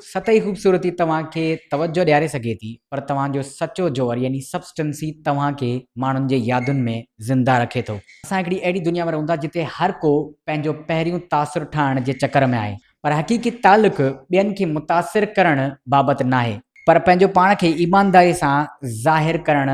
سطحي خوبصورتي توهان کي توجهه ڏياري سگهي ٿي پر توهان جو سچو جوهر يعني Substance ئي توهان کي ماڻهن جي يادن ۾ زنده رکي ٿو. اسان هڪڙي اهڙي دنيا ۾ رهون ٿا جتي هر ڪو پنهنجو پهريون تاثر ٺاهڻ جي چڪر ۾ آهي پر حقيقي تعلق ٻين کي متاثر ڪرڻ بابت ناهي پر پنهنجو پاڻ کي ايمانداري سان ظاهر ڪرڻ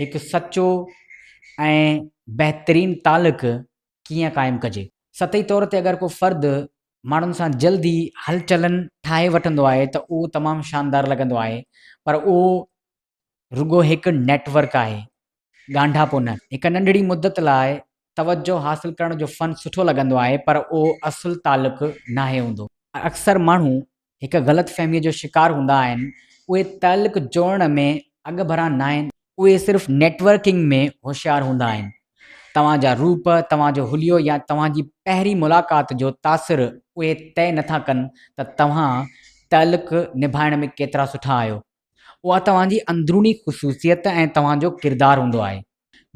هڪ سچو ۽ بهترين تعلق ڪيئن قائم ڪجي. سطحي طور تي اگر ڪو فرد ماڻهن سان جلد ئي هلچلن ٺاهي وٺندو آهي ته اهو تمام شاندار لڳندو آهي پر اهو رڳو هڪ نيٽ ورڪ آهي ڳانڍاپو نه. هڪ ننڍڙي مدت لاء توجهه حاصل ڪرڻ جو فن سٺو لڳندو آهي پر اهو اصل تعلق ناهي هوندو. اڪثر ماڻهو هڪ غلط فهميء جو شڪار هوندا آهن، اهي تعلق جوڙڻ ۾ اڳڀرا ناهن. اهي صرف نيٽ ورڪنگ ۾ هوشيار هوندا آهن. توهان جا روپ، توهان جو حليو يا توهان جي پهرين ملاقات جو تاثر اهي طئي نٿا ڪن ته توهان تعلق نڀائڻ ۾ ڪيترا سٺا آهيو. اها توهان جي اندروني خصوصيت ۽ توهان جو ڪردار هوندو آهي.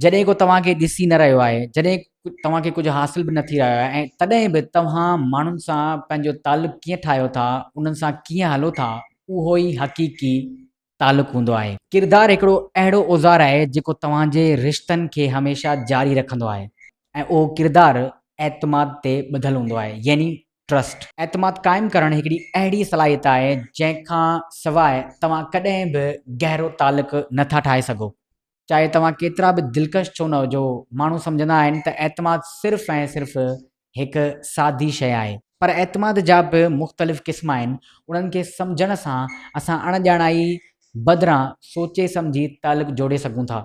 جڏهن ڪو توهان کي ڏسي نه رهيو آهي، جڏهن توهان کي ڪجهه حاصل به نه ٿي رهيو آهي ۽ تڏهن به توهان ماڻهن سان پنهنجو تعلق ڪيئن ٺاهيو ٿا، انهن سان ڪيئن هلو ٿا، اهو ئي حقيقي تعلق هوندو آهي. ڪردار هڪڙو اهڙو اوزار آهي جيڪو توهان جي رشتن کي هميشه جاري رکندو آهي ۽ اهو ڪردار اعتماد تي ٻڌل هوندو آهي يعني Trust. اعتماد قائم ڪرڻ هڪڙي اهڙي صلاحيت آهي جنهن کان سواء توهان ڪڏهن به گهرو تعلق نه ٿا ٺاهي سگهو. چاهي توهان ڪيترا به دلڪش ڇو نه هجو، ماڻهو سمجهندا آهن ته اعتماد صرف ۽ صرف هڪ سادي شيء آهي. پر اعتماد جا به مختلف قسم آهن، انهن کي سمجهڻ سان اسان اڻ ڄاڻائي بدران سوچي سمجهي تعلق جوڙي سگهون ٿا.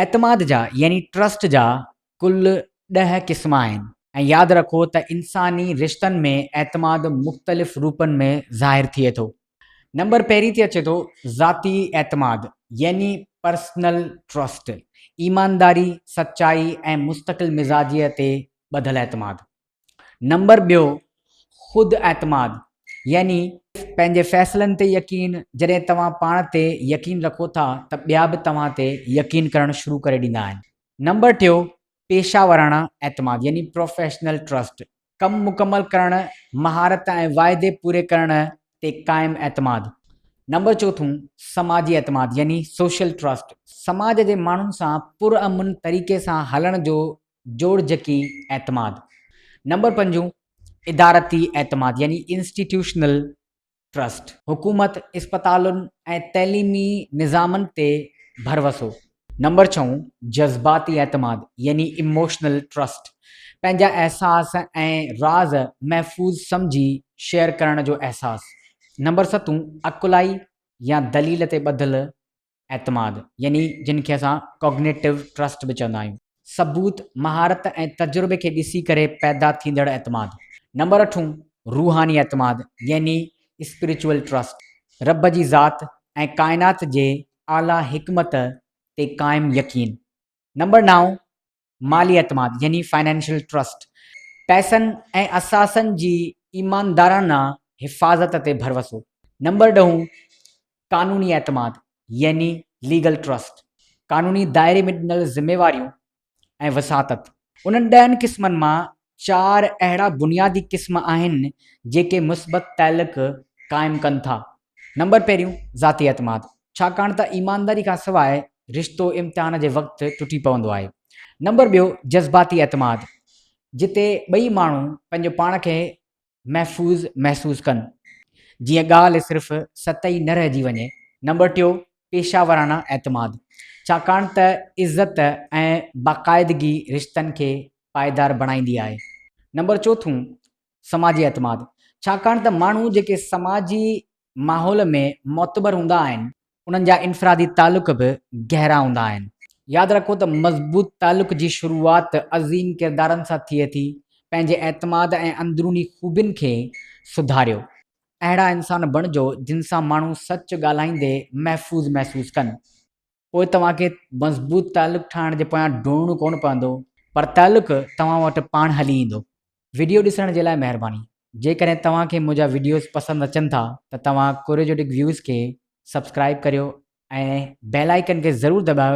اعتماد جا يعني ٽرسٽ جا ڪل ڏهه قسم آهن ۽ ياد رکو ته انساني رشتن ۾ اعتماد مختلف روپن ۾ ظاهر ٿئي ٿو. نمبر پهرين تي اچي ٿو ذاتي اعتماد يعني Personal Trust، ايمانداري، سچائي ۽ مستقل مزاجيء تي ٻڌل اعتماد. نمبر ٻيو، خود اعتماد يعني پنهنجي فيصلن تي يقين، جڏهن توهان پاڻ تي يقين رکو ٿا ته ٻيا به توهان تي يقين ڪرڻ شروع ڪري ڏيندا آهن. نمبر ٽيو، پيشه وراڻا اعتماد يعني Professional Trust ڪم مڪمل ڪرڻ، مهارت ۽ واعدي پوري ڪرڻ تي قائم اعتماد. نمبر چوٿون، سماجي اعتماد يعني Social Trust سماج جي ماڻهن سان پرامن طريقي سان هلڻ جو جوڙجڪي اعتماد. نمبر پنجون، ادارتي اعتماد يعني Institutional Trust. حڪومت، اسپتالن ۽ تعليمي نظامن تي ڀروسو. نمبر ڇهون، جذباتي اعتماد يعني Emotional Trust. پنهنجا احساس ۽ راز محفوظ سمجهي شيئر ڪرڻ جو احساس. نمبر ستون، عقلائي يا دليل تي ٻڌل اعتماد، يعني جن کي اسان Cognitive Trust به چوندا آهيون. ثبوت، مهارت ۽ تجربي کي ڏسي ڪري پيدا ٿيندڙ اعتماد. نمبر اٺون، روحاني اعتماد، يعني Spiritual Trust، رب جي ذات ۽ ڪائنات جي اعليٰ حڪمت تي قائم يقين. نمبر نائون، مالي اعتماد يعني Financial Trust، پئسن ۽ اثاثن جي ايماندارانه حفاظت تي ڀروسو، نمبر ڏهون قانوني اعتماد يعني Legal Trust، قانوني دائري ۾ ڏنل ذميواريون ۽ وساطت، انهن ڏهن قسمن مان چار اهڙا بنيادي قسم آهن جيڪي مثبت تعلق قائم ڪن ٿا. نمبر پهريون ذاتي اعتماد، ڇاڪاڻ ته ايمانداري کان سواء رشتو امتحان جي وقت ٽٽي پوندو آهي. نمبر ٻيو جذباتي اعتماد، جتي ٻئي ماڻهو پنهنجو پاڻ کي محفوظ محسوس ڪن، جيئن ڳالهه صرف ست ئي نه رهجي وڃي. نمبر ٽيون، پيشه وارانه اعتماد، ڇاڪاڻ ته عزت ۽ باقاعدگي رشتن کي پائيدار بڻائيندي آهي. نمبر چوٿون، سماجي اعتماد، ڇاڪاڻ ته ماڻهو جيڪي سماجي ماحول ۾ معتبر هوندا آهن، انهن جا انفرادي تعلق به گهرا هوندا آهن. ياد رکو ته مضبوط تعلق جي شروعات عظيم ڪردارن سان ٿئي ٿي. پنهنجي اعتماد ۽ اندروني خوبين کي سڌاريو. اهڙا انسان بڻجو جن سان ماڻهو سچ ڳالهائيندي محفوظ محسوس ڪن. پوء توهان کي مضبوط تعلق ٺاهڻ جي پويان ڊوڙڻو ڪونه پوندو پر تعلق توهان وٽ پاڻ هلي ايندو. وڊيو ڏسڻ جي لاء مهرباني. جيڪڏهن توهان کي منهنجا وڊيوز پسند اچن ٿا ته توهان ڪوريجوٽڪ ويوز کي سبسڪرائب ڪريو ۽ بيل آئيڪن کي ضرور دٻايو.